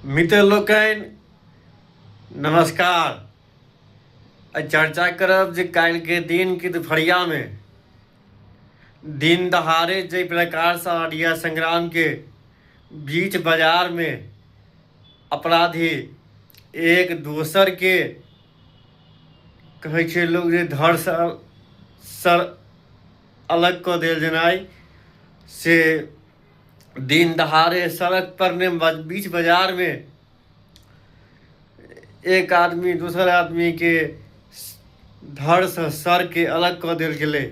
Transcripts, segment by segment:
मित्र लोकनि नमस्कार आइ चर्चा करब जे काल्हिके दिन कि दुपहरियामे दिन दहाड़े जाहि प्रकारसँ अरिया संग्रामके बीच बाजारमे अपराधी एक दोसरके कहै छै लोक जे धर सर अलग कऽ देल जेनाइ से दिन दहाड़े सड़क पर ने बीच बाजार में एक आदमी दोसर आदमी के धड़ से सर के अलग कऽ देल गेलै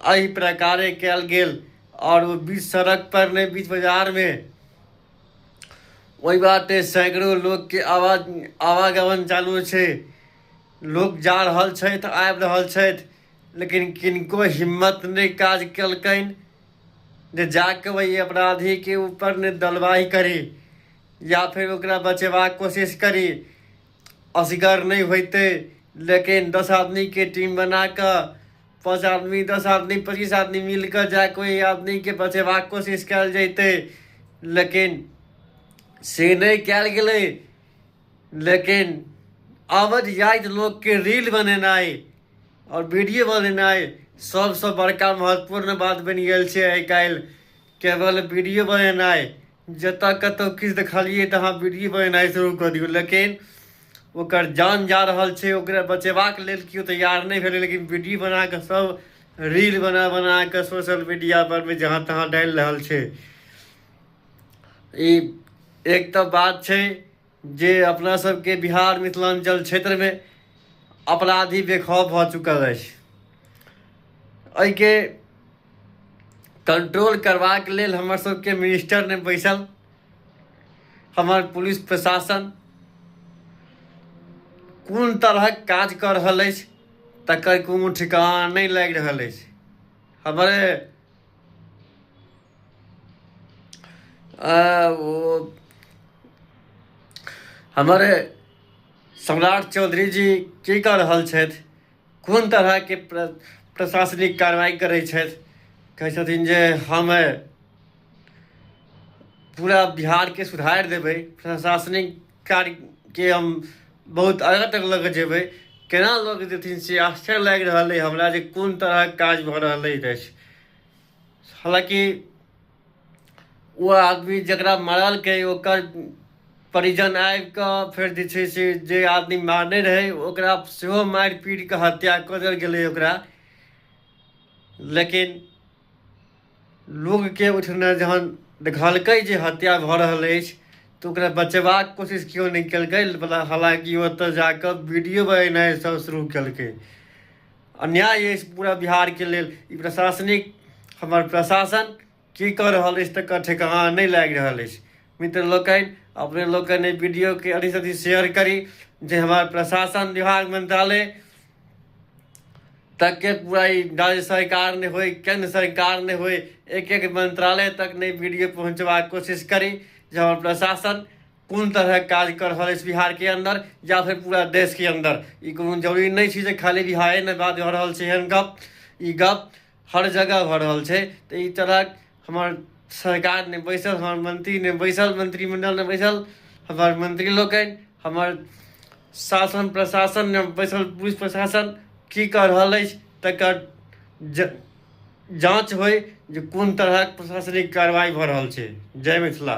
एहि प्रकारे कयल गेल और वो बीच सड़क पर ने बीच बाजार में वही बाटे सैकड़ो लोग के आवाज आवागमन चालू छै लोग जा रहल छथि आबि रहल छथि लेकिन किनको हिम्मत नहि काज केलकनि जे जाके वही अपराधी के ऊपर ने दलवाही करी या फिर ओकरा बचेबाक कोशिश करी असगर नहि होते लेकिन दस आदमी के टीम बना कऽ पाँच आदमी दस आदमी पच्चीस आदमी मिल कऽ जा कोई आदमी के बचेबाक कोशिश कयल जैते लेकिन से नहि कयल गेलै लेकिन अवध जाइत लोकके रील बनेनाइ आओर वीडियो बनेनाइ सबसँ बड़का महत्वपूर्ण बात बनि गेल छै आइ काल्हि केवल वीडियो बनेनाइ जतऽ कतहु किछु देखलियै तऽ अहाँ वीडियो बनेनाइ शुरू कऽ दियौ लेकिन ओकर जान जा रहल छै ओकरा बचेबाक लेल केओ तैयार नहि भेलै लेकिन वीडियो बना कऽ सब रील बना बना कऽ सोशल मीडियापर जहाँ तहाँ डालि रहल छै ई एक तऽ बात छै जे अपना सबके बिहार मिथिलाञ्चल क्षेत्रमे अपराधी बेखौफ भऽ चुकल अछि एहिके कंट्रोल करबाक लेल हमर सबके मिनिस्टर ने बैसल हमर पुलिस प्रशासन कोन तरहक काज कऽ रहल अछि तकर कोनो ठिकाना नहि लागि रहल अछि हमरे आ, वो हमारे सम्राट चौधरी जी की कऽ रहल छथि कोन तरहके प्र प्रशासनिक कार्रवाई करै छथि कहै छथिन जे हम अ, पूरा बिहारके सुधारि देबै प्रशासनिक कार्यके हम बहुत आगाँ तक लऽ कऽ जेबै केना लऽ कऽ जेथिन से आश्चर्य लागि रहल अइ हमरा जे कोन तरहक काज भऽ रहल अछि हालांकि ओ आदमी जकरा मारलकै ओकर परिजन आबि कऽ फेर जे छै से जे आदमी मारने रहै ओकरा सेहो मारि पीट कऽ हत्या कऽ देल गेलै ओकरा लेकिन लोकके ओहिठिना जहन देखलकै जे हत्या भऽ रहल अछि तऽ ओकरा बचेबाक कोशिश केओ नहि केलकै हालांकि ओतऽ जा कऽ वीडियो बनेनाइ सब शुरू केलकै अन्याय अछि पूरा बिहारके लेल ई प्रशासनिक हमर प्रशासन की कऽ रहल अछि तकर ठेकाना नहि लागि रहल अछि मित्र लोकनि अपने लोकनि एहि वीडियोके अधिक अधिक शेयर करी जे हमर प्रशासन विभाग मंत्रालय तक के पूरा राज्य सरकार ने होए केंद्र सरकार ने होए एक एक मंत्रालय तक ने वीडियो पहुंचवा कोशिश करी जो प्रशासन कोन तरहक काज कऽ रहल अछि बिहारके अन्दर या फेर पूरा देशके अन्दर ई कोनो जरूरी नहि छै जे खाली बिहारे नहि बात भऽ रहल छै एहन गप ई गप हर जगह भऽ रहल छै तऽ ई तरहक हमर सरकार नहि बैसल हमर मंत्री नहि बैसल मंत्रिमंडल नहि बैसल हमर मंत्री लोकनि हमर शासन प्रशासन नहि बैसल पुलिस प्रशासन की कऽ रहल अछि तकर ज जाँच होइ जे कोन तरहक प्रशासनिक कार्रवाइ भऽ रहल छै जय मिथिला